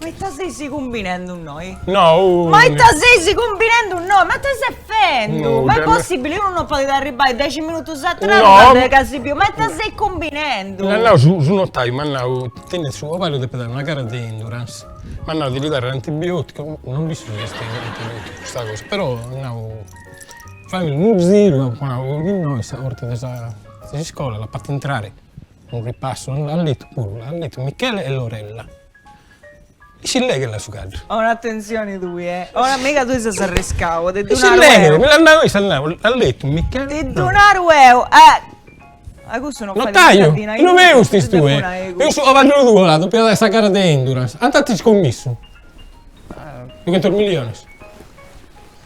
Ma ita seis cumbinendu innoi? No, unu. Ma ita seis cumbinendu innoi? Ma ita ses fendu? Ma est possibili, unu non podit arribbai dexi minutus atrás a dda gasi biu? Ma ita seis cumbinendu? M'at nau su notaiu, m'at nau, tenet su cabaddu depit aer una gara de endurance, m'at nau de li dare antibioticu, non dd'isciu si est antibioticu custa cosa, però m'at nau, fai unu giru, m'at nau, innoi sa porta de sa de s'iscola l'at fata intrare Unu ripassu, l'at letu puru, l'at letu Michele e Lorella. E si leghet la su caddu. Ora attenzioni tui eh. Ora mega tui ses arriscau, ti ddu naru eu. Mi l'at nau issa, l'at letu Michele. Ti ddu naru eu eh. A cussu no fait mai sa dina. Notaiu, no peus ses tue. Peus su cabaddu tuu l'at dopiada sa gara de Endurance. Ant scommissu. Duchentos milliones.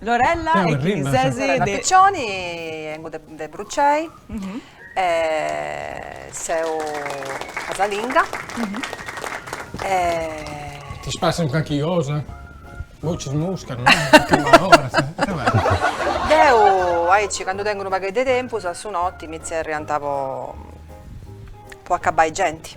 Lorella e chi ses de. Lorella Piccioni, 'engu de Brucei e seu casalinga e. T'est passende carchi cosa? Bocis muscas, no? Deu aici candu tengu unu pagheddu de tempus a su noti mi zerriant po acabbai genti.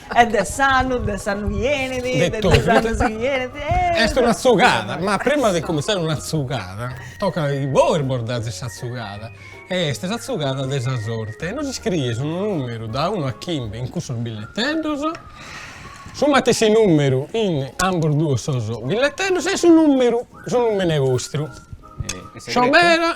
E de s'annu, de s'annu chi 'enit, de De totu. dus annus chi 'enit, eh! Est una tzugada, ma prima de cominzare una tzugada, tocat chi bois bos dazis sa tzugada e est sa tzugada de sa sorte e nos iscries unu numeru da unu a chimbe in cussos billeteddos, su matessi numeru in ambos duos sos billeteddos e su numeru, su numene vostru. E in segretu? Sciobera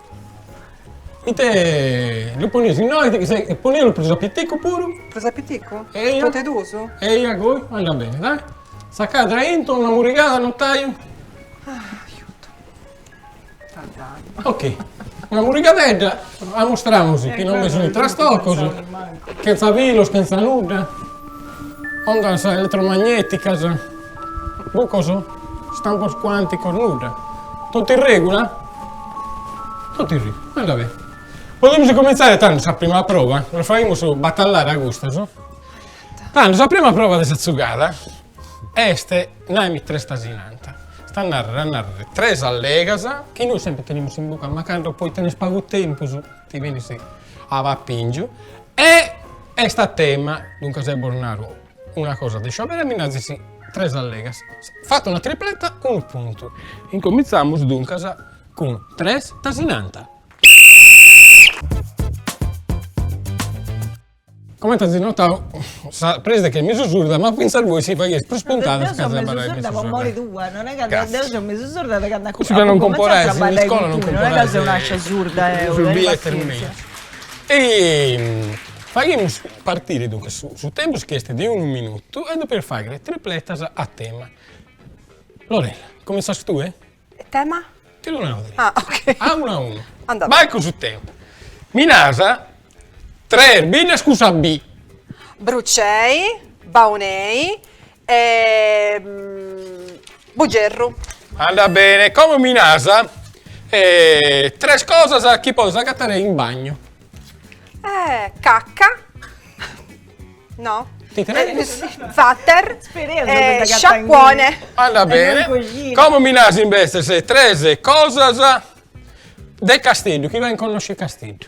Ite lu ponius innoi e ponilu prus a piticu puru. Prus a piticu? Eia. Totu e duus? Eia goi andat beni, dai. Tzacadda aintru, una murrigada, notaiu. Aiuto. Ok, una murrigadedda, amustramus chi non bi sunu trastocos, chentza filos, chentza nudda, ondas elettromagneticas. Bucos? Stampos cuanticos nudda. Totu in regula? Totu in regula, anda beni. Podemus incomintzai tando sa prima prova, los faimus batallare a custos. Tando sa prima prova de sa tzugada est naimì tres tasinanta. Est a narrer, a narrer, tres allegas chi nois sempri tenimus in buca, ma cando poi tenes pagu tempus ti benis a papingiu e est a tema, duncas eo bos naro. Una cosa de sciòberu mi nazis tres allegas. Fata una tripleta, unu puntu. Incomintzamos duncas cun tres tasinanta. Comente azis notadu sa preside est mesu surda ma fintzas bois si faghies prus puntadas ca sa barra est mesu surda. Deu so mesu surda po mori tua, non est ca deu so mesu surda de candu apu cumenzau a trabaddai cun tui, non est ca seu nascia surda deu, tenni passienzia. Faghimus partire duncas su tempus chi est de unu minutu e depes fàghere tripletas a tema. Lorella, comintzas tue? E tema? Ti ddu nau deu. Ah, ok. A unu a unu. Andat. Vai cun su tempus. Mi naras tres biddas cun sa bi. Brucei, Baunei E Bugerru. Andat bene, como mi naras tres cosas chi podes agatare in bagnu. Eh cacca no Ti trei? Vater e sciacuone. Andat bene, como mi naras imbetzes tres cosas de Casteddu chi faghent connòschere Casteddu.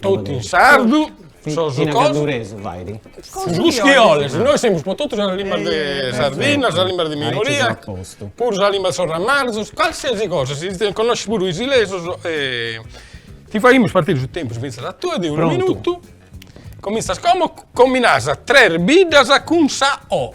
Totu in sardu, sos cosos, cussu chi 'oles, nois semus pro totu sas limbas de Sardinna, sas limbas de minoria, puru sa limba de sos ramarzos, calsiasi cosa, si connosches puru isilesos e ti faghimus partire su tempus finzas a tue de unu minutu, cominzas como, como mi naras tres biddas cun sa 'o'.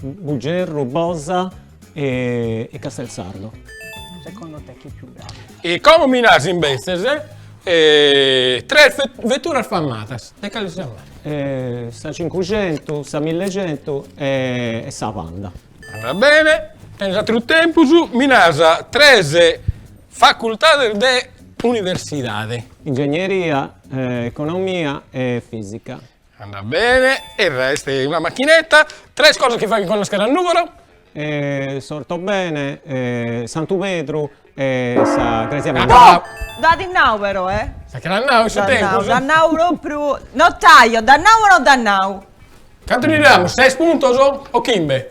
Bugerru, Bosa e Castelsardo. Secondo te chi è più bravo? E como mi naras imbetzes tres veturas famadas, de cale si siat marca? Sa cincuxentu, sa millexentu e sa Panda. Andat bene, tenes ateru tempus, mi naras tres facultades de universidade. Ingegneria, economia e fisica. Andat bene e est una machinetta. Tres cosas chi faghen connoscher a Nùgoro. S'Ortobene, Santu Pedru e sa Crèsia Meda. Dd'at nau però eh. Sa chi l'at nau in su tempus? Dd'at nau propriu, notaio, dd'at nau o no dd'at nau? Cantu ddi damus, ses puntos o chimbe?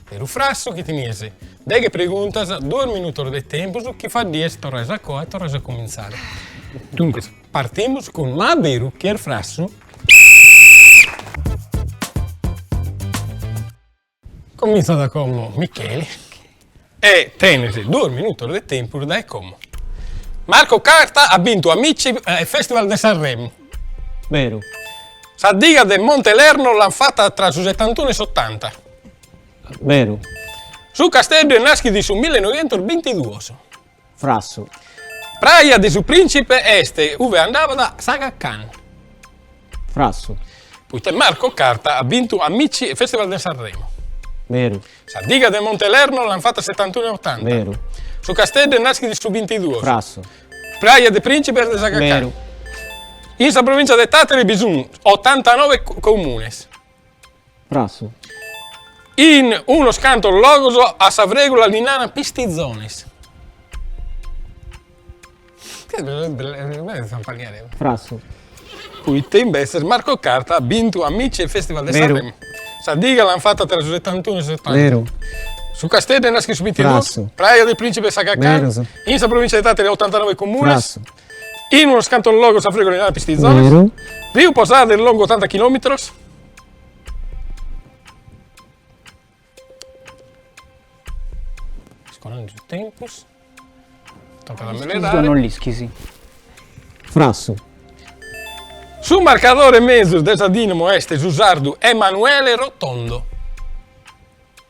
Beru o frassu chi tenies deghe preguntas, duos minutos de tempus chi faddies torrais a coa e torrais a cumintzare. Duncas partimus cun ma a beru chi est frassu? Comintzat como Micheli e tenes duos minutos de tempus dae como Marco Carta at bintu Amici e Festival de Sanremo. Beru. Sa diga de Monte Lerno l'ant fata tra su setantunu e s'otanta. Beru. Su Casteddu est nàschidu in su millenoientos bintiduos. Frassu. Praja de su prìntzipe est ue andabat s'Aga Khan. Frassu. Poita Marco Carta at bintu Amici e Festival de Sanremo. Beru. Sa diga de Monte Lerno l'ant fata setantunu e otanta. Beru. Su Casteddu est nàschidu in su bintiduos. Frassu. Praja de prìntzipe est de s'Aga Khan. Beru. In sa provìntzia de Tàtari bi sunt otantanove comunes. Frassu. In unos cantos logos a sa frègula li naran pistizones. Frassu. Poita imbetzes Marco Carta at bintu Amici e il Festival de Sanremo. Veru. Sa diga l'ant fata tra su setantunu e su setanta. Veru. Su Casteddu est naschidu su binti e duus. Frassu. Praja del Principe est Arzachena. Beru. In sa provincia de Tàtari at otantanove comunes. Frassu. In unos cantos logos a sa frègula li naran pistizones. Veru. Riu Posada est longu otanta chilòmitros. Scorrendo il tempus. Tocca de acelerare. non l'ischisi. Frassu. Su marcadore mezus de sa Dinamo est su sardu Emanuele Rotondo.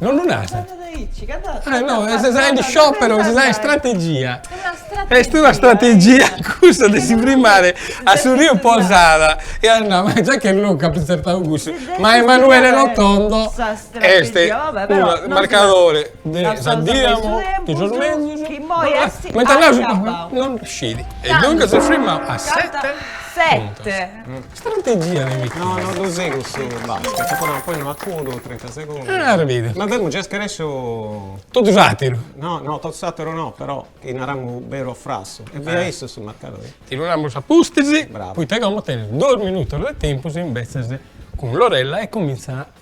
Non lu nasat. Eh no, est sa in sciòpero, est sa istrategia. Est una strategia cussa de si frimare a su riu Posada e a nai, ma già che l'apu intzertau cussu, ma Emanuele Rotondo est unu marcadore de sa Dinamo de sos mezus, mentas nosu non scit e duncas si frimat a sete puntos. Strategia de Micheli. No, no ddu sigu su basket, nci podeu ponni una cuddu, trinta segundus. Ah, arrebidu. Ma deu mi nci scaresciu. Totu s'ateru. No, no, totu s'ateru no, però chi naramus beru o frassu. E fia issu su marcadori. Ti ddu namus a pustis. Bravu. Poita e como tenis duus minutus de tempus imbetzes cun Lorella e comintzat.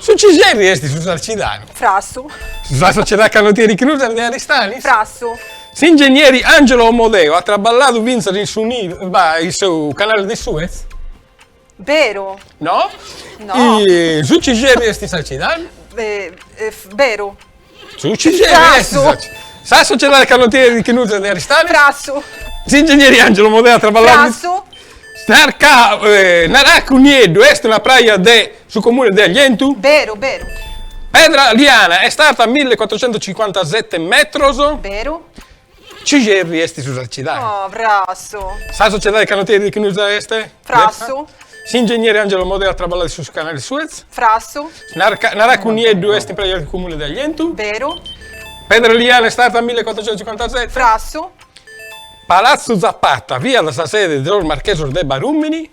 Su Cixerri est su Sarcidanu. Frassu. Sa sociedade canotieri Ichnusa est de Aristanis. Frassu. S'ingennieri Angelo Omodeo at traballadu fintzas in su Nilo, bah, in su canale de Suez. Beru. No. No. Su Cixerri est Sarcidanu. Beru. Sa Sociedade Canottieri Ichnusa de Aristanis. Frassu. S'ingegneri Angelo Omodeo at traballadu. Frassu. Naracu Nieddu est una praja de su comune de Aglientu? Beru, beru. Pedra Liana est arta milli e cuattrocentocincuantasette metros? Beru. Cixerri est su Sarcidanu. Oh, frassu. Sa sociedadi canotieri Ichnusa est. Frassu. S'ingenieri Angelo Omodeo at traballadu in su canali de Suez. Frassu. Naracu Nieddu est una praja in Cumuni de Aglientu. Beru. Pedra Liana est arta milliecuatrocientucincuantaseti. Frassu. Palazzu Zapata fiat sa sede de sos marchesos de Barumini.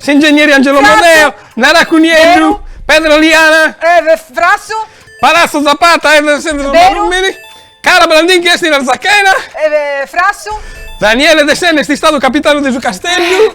S'ingegneri Angelo Omodeo Naracu Nieddu Pedra Liana Palazzo Zapata Cala Brandinchi est in Arzachena Daniele Dessena est istadu capitanu de su Casteddu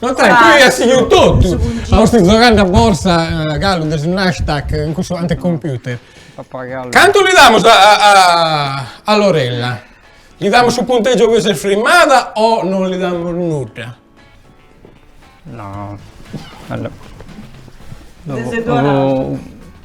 Notaiu, tue as sighiu totu! Ma usti gioghendi a borsa, galu de su Nasdaq, in cussu anticomputer. Pappagallu. Cantu li damus a, a, a Lorella? Li damus su puntegiu chi s'est frimmada o non li damus nudda? No. Allo- Dexi e duan'astu.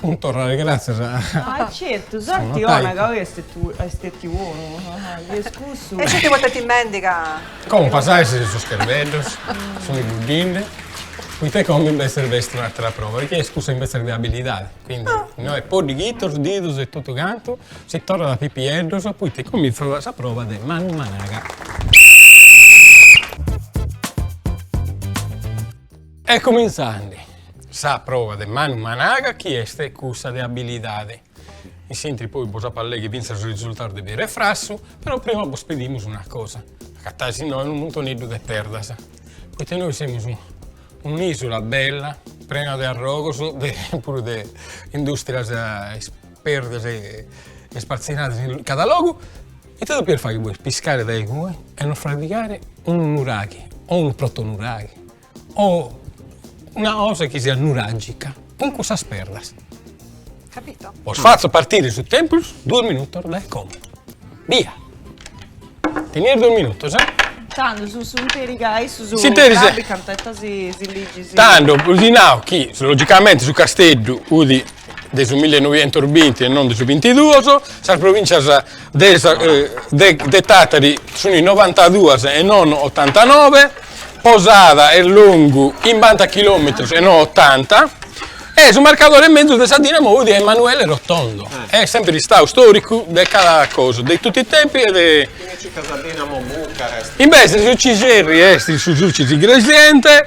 Cun torrare gratzias a. Ah certu, sorti ona ca oi est stetiu onu, est cussu. E si ti potet imbendi ca. Como pasae si sos cherbeddos sunt buddinde, poita como imbetzes b'est un'atera prova, chi est cussa imbetzes de abilidade, quindi inoghe poddighitos, didos e totu cantu si torrat a pipieddos, poita incomintzat sa prova de manu managa. E cumintzandi sa prova de manu managa chi est cussa de abilidade. In s'interi poi bos apo a leghi fintzas su risultau de beru e frassu, però prima bos pedimus una cosa, agatais innoi unu muntoneddu de perdas, poita innoi semus un'isula bella prena de arrogos puru de industrias perdas e ispartzinadas in cada logu, ita depies faghi, piscare dae igue e nos frabigare unu nuraghi o unu protonuraghi O una cosa chi siat nuràgica, cun cussas perdas. Capito? Bos fatzo partire su tempus duos minutos dae como. Bia! Tenies duos minutos, eh? Tando su su interi gai su su S'interi sa- Rabbi cant'etta si si liggi si Tando bosi nau chi logicamenti su Casteddu udi de su millenoientosbinti e non de su bintiduos, sas provìntzias de sa de de Tàtari sunt in novantaduas e non otantanove, Posada est longu chimbanta chilòmetros e non otanta, e su marcadore in mezus de sa Dinamo udi Emanuele Rotondo, est semper istadu storicu de cada cosa, de totu is tempus e de. Invece su Cixerri est su Sulcis Iglesiente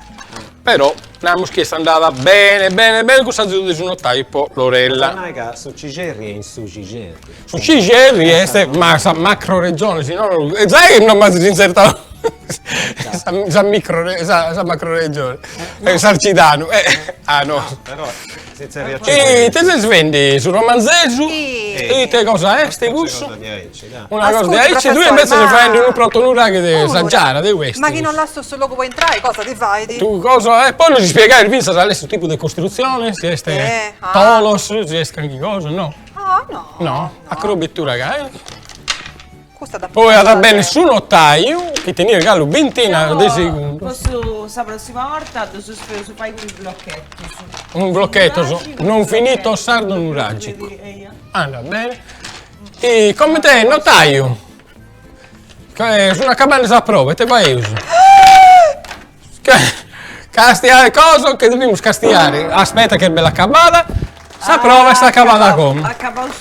Però namus chi est andada bene bene bene cuss'azudu de su notaiu po Lorella. Ch'at a nai ca su Cixerri est in su Cixerri. Su Cixerri est ma sa macroregione, si nono, e zai no m'as inzertau sa micro sa macroregione, Sarcidanu, ah no. Però Cixerri a Cixerri. Ite ses fendi su Romanzesu? Ite cosa est cussu? Una cosa de aici, tui invece ses faendi unu protonuraghe de sa Giara, de u'estis. Ma chi non lassas su logu po intrai, cosa ti faidi? Tu cosa, e poi nos ispiegais finzas cale est su tipu de costruzione, si est tholos, si est canchi cosa, no? Ah, no. No, a crobetura ca est. Custa da. Poi at a benni su notaiu, chi tenies galu bintina de segundos. Deu cussu sa prossima borta ddu suspeu su fai cun is blocchetus. Cun is blocchetus, non finito sardo nuragicu. Andat bene. E comente notaiu, sun acabende sa prova, ite faius? Castiai cosa che devimus castiare, aspetta che est bella acabada, sa prova est acabada como.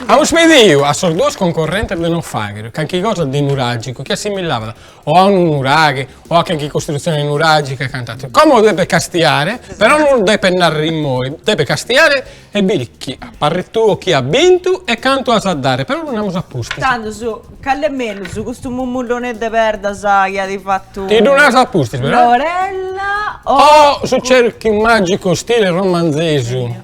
Amus pediu a sos duos concorrentes de nos faghere calchi cosa de nuragicu chi assimillabat o a unu nuraghi o a canchi costrutzione nuragica e cant'atteru. Como depet castiare, però non depet narrer immoi, depet castiare e biri chi a parre tuo chi at bintu e cantu as a dare, però ddu namus a pustis. Tandus, cal'est mellus, custu mummullone de perdas chi at fattu. Ti ddu naras a pustis però. Lorella o. O su cerchiu magicu stile Romanzesu.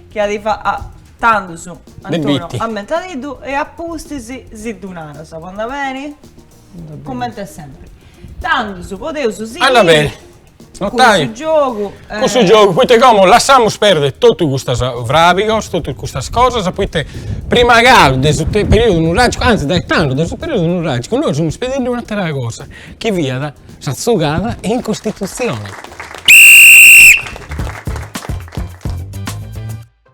Chi at fattu, tandus, Antonio, ammentadiddu e a pustis si ddu naras, po andà beni? Comente sempre. Tandus podeus sighiri. Anda beni. Notaiu. Cussu giogu. Cussu giogu, poita como lassamus perdere totu custas frabigos, totu custas cosas, poita prima galu de su periodu nuragicu, anzi dae tando de su periodu nuragicu, nois semus pedindi un'atera cosa, chi fiat sa tzugada in Costitutzioni.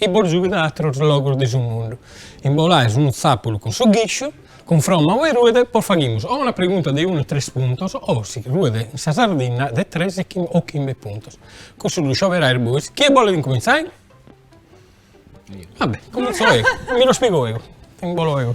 I bos giughet a atrus logus de su mundu. Imbolais unu tzapulu cun su ghisciu, cunfromma a ue ruet bos faghimus o una pregunta de unu o tres puntos o, si ruet in sa Sardinna, de tres o chimbe puntos. Cussu ddu scioberais bois. Chie bolet incumintzai? Vabbè, incumintzo eo. Mi ddus pigo eo. Imbolo eo.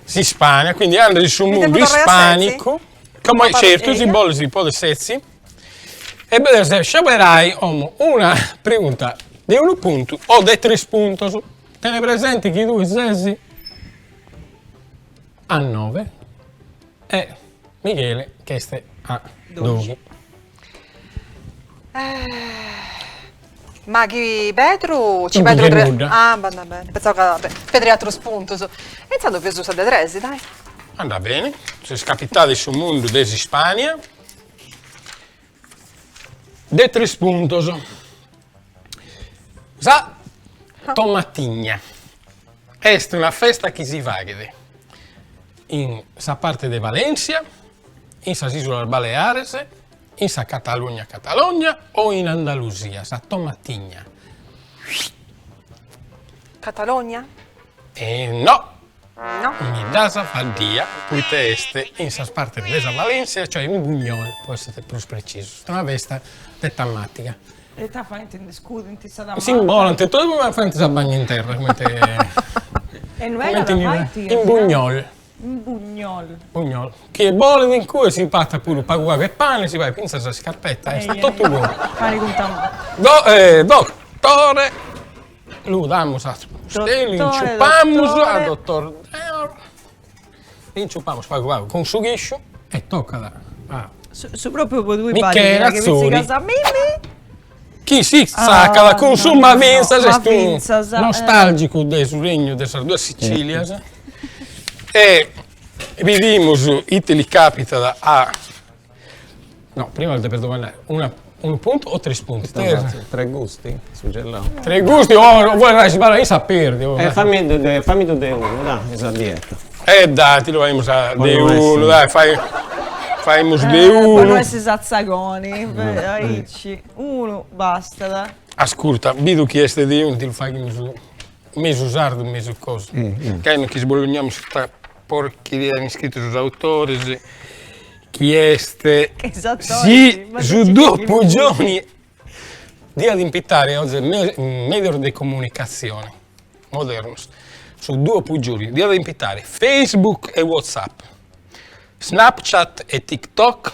S'Ispania, quindi andat in su mundu ispanicu, como certu si boles podes setzi, e depes scioberai como una pregunta de unu puntu o de tres puntos, tene presenti chi tui sesi a nove e Michele ch'est a doxi. Ma chi perdu, ci perdu tres... Ah, va bene, pensavo ca perdu atrus puntus. E intzandus pigu sa de tres, dai. Andat beni, ses capitada in su mundu de s'Ispania de tres puntus. Sa tomatigna est una festa chi si faghet in sa parte de Valèntzia in sas Ìsulas Baleares, in sa Catalugna Catalogna o in Andalusia, sa tomatigna. Catalogna? E no! No. Mi dd'as faddia poita est in sas partes de sa Valèntzia, cioè in Buñol pro essere prus precisos. Est una festa de tamàtiga. E ita faint? Nde scudint sa tamata? S'imbolant e faint sa bagna in terra comente in Buñol. Bugnol. Bugnol. Chie bolit in cue si papat puru pagu pagu 'e pane, si faghet fintzas sa iscarpetta, est a totu coro. Parit cun tamore. Dottore, lu damus a Steli, inciupamus a dottor Deor, inciupamus pagu pagu cun su chisciu e tocat a. Su propriu po tui Michele Atzori. Chi si tzàcada cun su ma fintzas est unu nostàlgicu de su Regnu de sas duas Sicìlias e bidimus ite li càpitat a, no, prima aus depidu domandai, una, unu puntu o tres puntus? Tres gusti, su gellau. Tres gusti, o bois nai si balai in sa perdi. E fami ddu de unu, dai, sa dieta. E dai, ti ddu faimus a de unu, dai, fai, faimus de unu. Po no essi satzagoni. Chi unu bastat, dai. Ascurta, bidu chi est de unu ti lu faghimus mesu sardu mesu cosu. Gai nos che sbolognamus custa porcheria chi ant iscritu sos autores chi est si su Duo Puggioni diat impitare oe medios de comunicazione modernos su Duo Puggioni diat impitare Facebook e WhatsApp, Snapchat e TikTok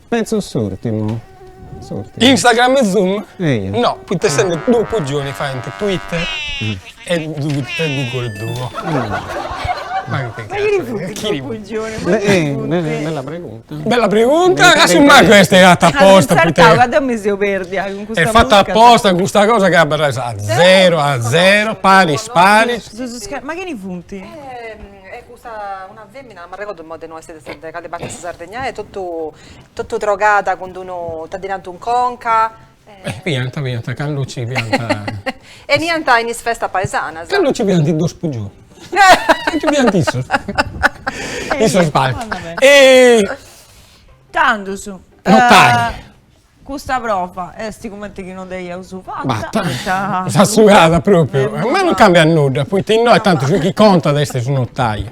Penso s'urtimu, s'urtimu. Instagram e Zoom? Eia. No, poita essende Duo Puggioni faint Twitter e Google Duo. Ma chi cazzo. Chini funt? Bella pregunta. Bella pregunta, ca su mancu est fata apposta poita. Sartau ca deu mi seu perdia cun custa. Est fata apposta custa cosa ca abarrais a zero a zero, paris paris. Ma chini funt? E custa, una fèmina, non m'arregordu imoi de innui est de cale parti 'e sa Sardigna est, totu totu trogada cun d'unu, ita ddi nant, in conca. Fiant, fiant, candu nci fiant. 'eniant in is festas paesanas. Candu nci fiant is Duo Puggioni. Nci fiant issus. Issus. Tandus. Notai. Custa prova est cumenti chi non dd'aiaus fata poita. Sa sugada propriu. Ma non cambiat nudda, poita innoi tanti su chi contat est su notaiu.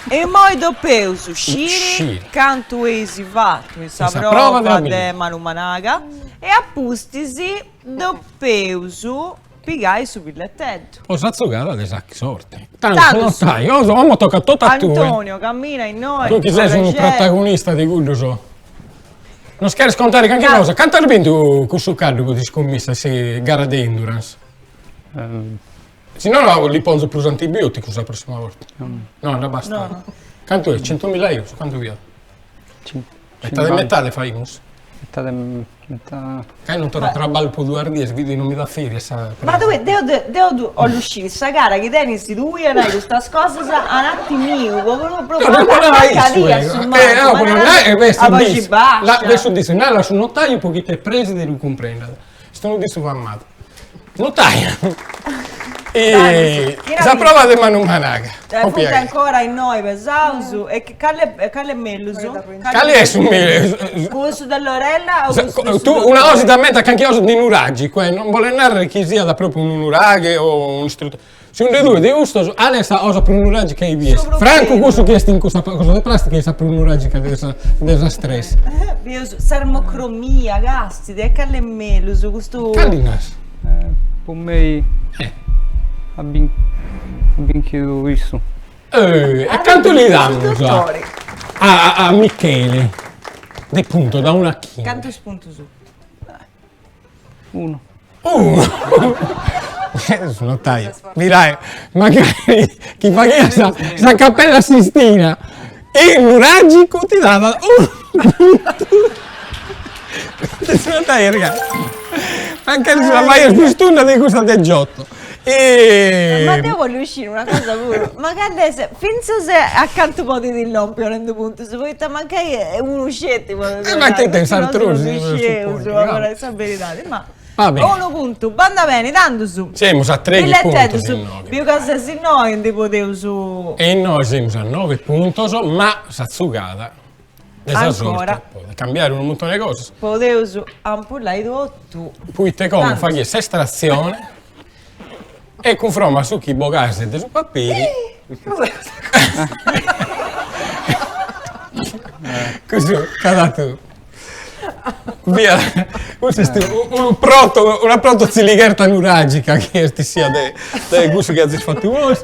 E immoi depeus sciri cantu eis fatu in sa prova de manu managa e apustis depeus. Pigai su billetteddu. Po sa zogada de sa sorte. Tantu notaiu, como tocat totu a tue. Antonio, cammina innoi. Tu chi ses unu protagonista de cuddus. Nos cheres contare canchi cosa? Cantu as bintu cun su caddu po iscummissas in gara de endurance? Si no li ponzu prus antibioticu sa prossima borta. No, non bastat, no. Cantu est? Centumilla eurus? Cantu fiat? Metade metade faimus. Meta de meta. Ca non torra a traballu po duas dies, bido chi non mi dat ferias. Ma tue deu deu ddu 'ollu sciri sa cara chi tenis tui a nai custas cosas ananti miu po no po no nai a boxi bascia. Nai a su dissu, nai a su notaiu po chi t'est prexit e ddu cumprendat. Est unu dissu famadu. Notaiu. Sa prova de Manu Managa. Funt ancora innoi pesaus. E cali cali est mellus? Cali est su mellus? Cussu de Lorella o cussu de su Una cosa siguramenti canchi cosa de nuragicu, cioè non bolet narrer chi siat propriu unu nuraghe o un'istrutura Segundu tue de custos cale est sa cosa prus nuragica chi bides. Francu cussu chi est in custa cosa de prastica est sa prus nuragica de sa de sas tres. Bios s'armocromia, casti, de cali est mellus custu? Cali nas? Po mei at binchidu issu. E cantu li damus a a a Michele de puntos da unu a chimbe? Cantus puntus? Unu. Unu! Su notaio. Mirai, magari chi faghia sa, sa Cappella Sistina in nuragicu ti dava unu puntu. Su notaio, mancai ti la faias pius tunda de cussa de Giotto. E... Ma deu bollu sciri una cosa puru, ma candu est, finzas a cantu podit lompi donendi puntus, poita mancai a unu sceti podit lompi, e si no si no si scieus, po narai sa beridadi, ma unu puntu bandat beni, tandus, billeteddus, biu ca ses innoi ndi podeus. E innoi semus a novi puntus, ma sa tzugada de sa sorte podet cambiare unu muntone 'e cosas podeus ampullai totu poite como faghiat s'estrazione e cunfromma a su chi bogas de su papiri custu cad'aturu fiat custu est unu proto una proto tziligherta nuragica chi est bessia de cussu chi azis fatu bois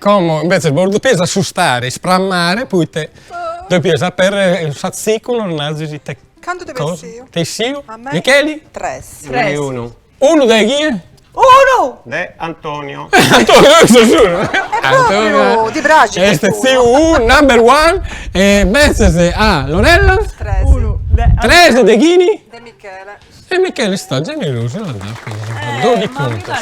Como imbetzes bois depies assustare, isprammare, poite depies aperrere in s'atzicu nos nazis ite. Cantu t'est bessiu. Bessiu. A mei. Micheli. Tres. Tres. Unu. Unu de chie? Unu. De Antonio. Antonio deu so solu. E propriu, ti praxit. Est bessiu su number one e imbetzes a Lorella. Tres. Unu. Tres de chini? De Michele. E Michele est istadu generosu e l'at datu sunt doighi puntos,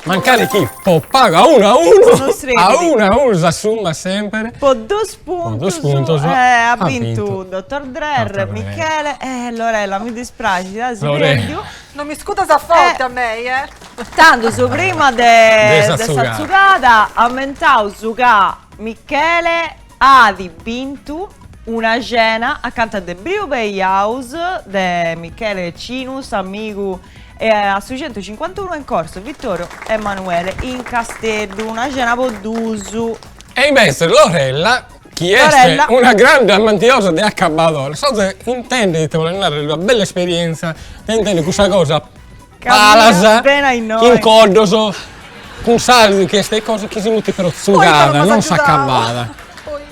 mancari chi po pagu a unu a unu, a unu a unu s'assummat semper, po dus puntos at bintu Dottor Drer, Michele e Lorella, mi dispraxit as perdiu, non mi iscudas a forti a mei eh, tandus prima de sa tzugada amentaus ca Michele. at bintu una cena acanta de Brew Bay House de Michele Cinus, s'amigu e a su centucincuantunu in corso Vittorio Emanuele in Casteddu, una cena po duus. E invece Lorella chi est una grande amantiosa de acabadores, sos intendit ite bolet narrer una bella esperienza de intender custa cosa Palas, in coddos, cun sa chi est de cosa chi si mutit però tzugada, non s'acabbada.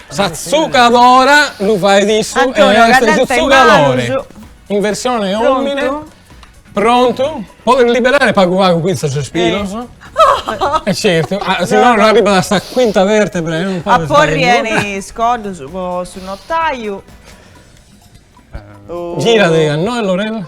Sa tzugadora lu fait issu e est su tzugadore in versione omine. Prontu. Podit liberare pagu pagu custos pilos. E certu, si no no arribat a sa quinta vertebra e non podit fai nudda. A porri 'e is coddos po su notaju. Giradi a nois Lorella.